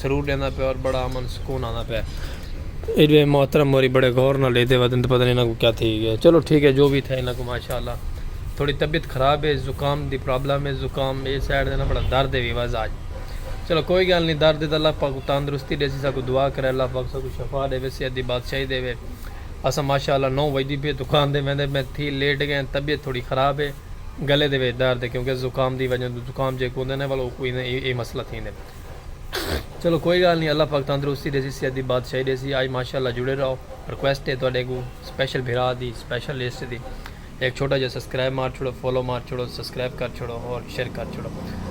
سرور ڈیندا پیا اور بڑا امن سکون آندا پیا اے دوئے محترم موری بڑے غور نال ڈیدے ودن تے پتہ نہیں انہاں کو کیا تھی گیا چلو ٹھیک ہے جو بھی تھا انہاں کو ماشاءاللہ تھوڑی طبیعت خراب ہے زکام دی پرابلم ہے زکام اے سائیڈ دے نا بڑا درد ہے وی وز آج چلو کوئی گل نہیں درد ہے تے اللہ پاک کو تندرستی ڈیسی سا کو دعا کرے اللہ پاک سا کو شفا دے وے صحت دی بادشاہی دے وے اساں ماشاءاللہ نو وجدی پے دکان دے ویندے میں تھی لیٹ گئے طبیعت تھوڑی خراب ہے گلے دے وے درد ہے کیونکہ زکام دی وجہ زکام جے کو ہوندے نا ولو کو اے مسئلہ تھی نے۔ چلو کوئی گالھ نی اللہ پاک تندرستی ڈیسی صحت دی بادشاہی ڈیسی آئی ماشاءاللہ جڑے رہو ریکویسٹ ہے تہاڈے کوں سپیشل بھرا دی سپیشل لسٹ دی ہک چھوٹا جیہا سبسکرائب مار چھوڑو فالو مار چھوڑو سبسکرائب کر چھوڑو اور شیئر کر چھوڑو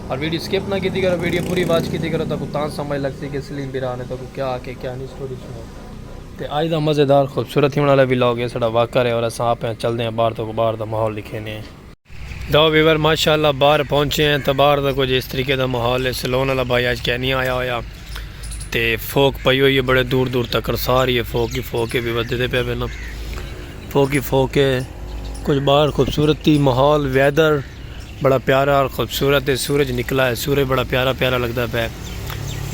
اور ویڈیو سکپ نہ کیتی کرو ویڈیو پوری واچ کیتی کرو تہاکوں تاں سمجھ لگسی کہ سلیم بھرا نے تہاکوں کیا آکھے کیا نی سٹوری سنائی تے آج دا مزیدار خوبصورت تھیونڑ والا ولاگ ہے ساڈا واک کر ہے اور اساں آپ ہیں چلدے ہیں باہر تہاکوں باہر دا ماحول ڈکھینے ہیں۔ دا ویور ماشاءاللہ باہر پہنچے ہیں تو باہر دا کچھ اس طریقے دا محال ہے سلون والا بھائی آج کہہ نہیں آیا ہویا تے فوک پئی ہوئی ہے بڑے دور دور تک ساری ہے فوک ہی فوک ہے ویور دے دے پہ پہ نا فوک ہی فوک ہے کچھ باہر خوبصورتی محال ویدر بڑا پیارا اور خوبصورت ہے سورج نکلا ہے سورج بڑا پیارا پیارا لگتا پہ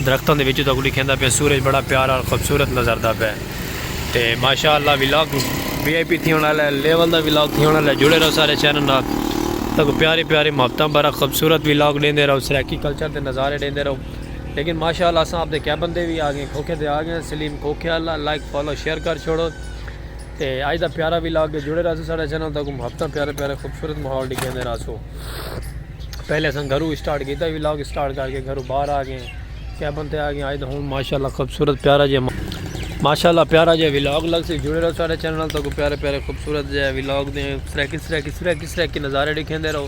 درختاں دے وچوں تاکوں ڈکھیندا پیا سورج بڑا پیارا اور خوبصورت نظر دا پیا تے ماشاءاللہ ولاگ وی آئی پی تھی ہونا لے لیول دا ولاگ تھی ہونا لے جڑے رہو سارے چینل نال تاکو پیارے پیارے محبتاں بھرا خوبصورت ولاگ ڈیندے رہو سرائیکی کلچر دے نظارے ڈیندے رہو لیکن ماشاءاللہ اساں اپ دے کیبن دے وی آ گئے کھوکھے دے آ گئے سلیم کھوکھے اللہ لائک فالو شیئر کر چھوڑو تے اج دا پیارا وی لاگ ہے جڑے رہسو ساڈا چینل تاکم ہفتہ پیارے پیارے خوبصورت ماحول ڈکھیندے رہسو پہلے اساں گھرو سٹارٹ کیتا وی لاگ سٹارٹ کر کے گھرو باہر آ گئے کیبن تے آ گئے اج دا ہن ماشاءاللہ خوبصورت پیارا جے ماشاءاللہ پیارا جے وی لاگ لگ سی جڑے رہو ساڈے چینل تاکم پیارے پیارے خوبصورت جے وی لاگ دے سریکی سریکی سریکی سریکی نظارے ڈکھیندے رہو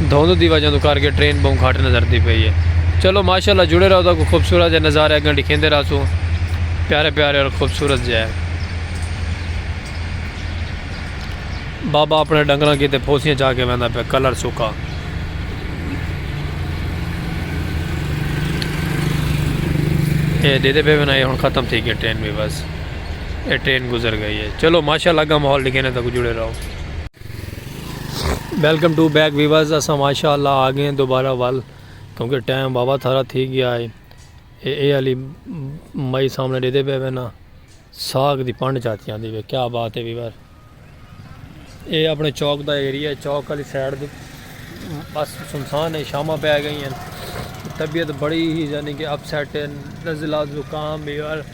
دھند دی وجہ توں کر کے ٹرین بہوں گھٹ نظر دی پئی ہے چلو ماشاءاللہ جڑے رہو تاکو خوبصورت جے نظارے اگیں ڈکھیندے رہسوں پیارے پیارے اور خوبصورت جے ہے بابا اپنے ڈنگراں کی تے پھوسیاں چاہ کے ویندا پہ کلر سکا اے دے دے پہ وینا اے ہن ختم تھی گیا ٹرین بھی بس اے ٹرین گزر گئی ہے چلو ماشاءاللہ اگاں ماحول ڈکھیندے تاکو جڑے رہو ویلکم ٹو بیک ویورز اساں ماشاءاللہ آ گئے ہیں دوبارہ ول کیونکہ ٹائم بابا تھارا تھی گیا ہے اے اے علی مائی سامنے دے دے پہ وینا ساگ دی پنڈ چاہتی آندھی پہ کیا بات ہے ویور اے اپنے چوک دا ایریہ ہے چوک علی سیڈ دے بس سنسان ہے شامہ پہ آ گئی ہیں طبیعت بڑی ہی یعنی کہ اپ سیٹ ہے نزلہ زکام ویور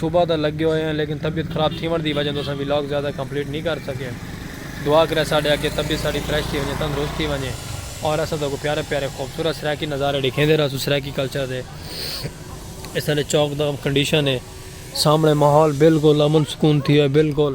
صبح دا لگے ہوئے ہیں لیکن طبیعت خراب تھیون دی وجہ توں اساں ولاگ زیادہ کمپلیٹ نی کر سکے دعا کرے ساڈے اگے طبیعت ساڈی فریش تھی ونجے تندرست تھی ونجے اور اساں تہاکوں پیارے پیارے خوبصورت سرائیکی نظارے ڈکھیندے رہسوں سرائیکی کلچر دے اس الے چوک دا کنڈیشن ہے سامنے ماحول بالکل امن سکون تھی ہوئے بالکل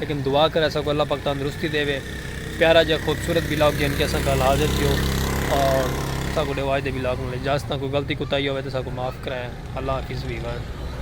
لیکن دعا کر اساں کوں اللہ پاک تندرستی ڈیوے پیارا جیہا خوبصورت ولاگ گھن کے اساں گھل حاضر تھیو اور اساں کوں ڈیو آج دے ولاگ نال اجازت تاں کوئی غلطی کوتاہی ہووے تاں اساں کوں معاف کرائیں اللہ حافظ ویور۔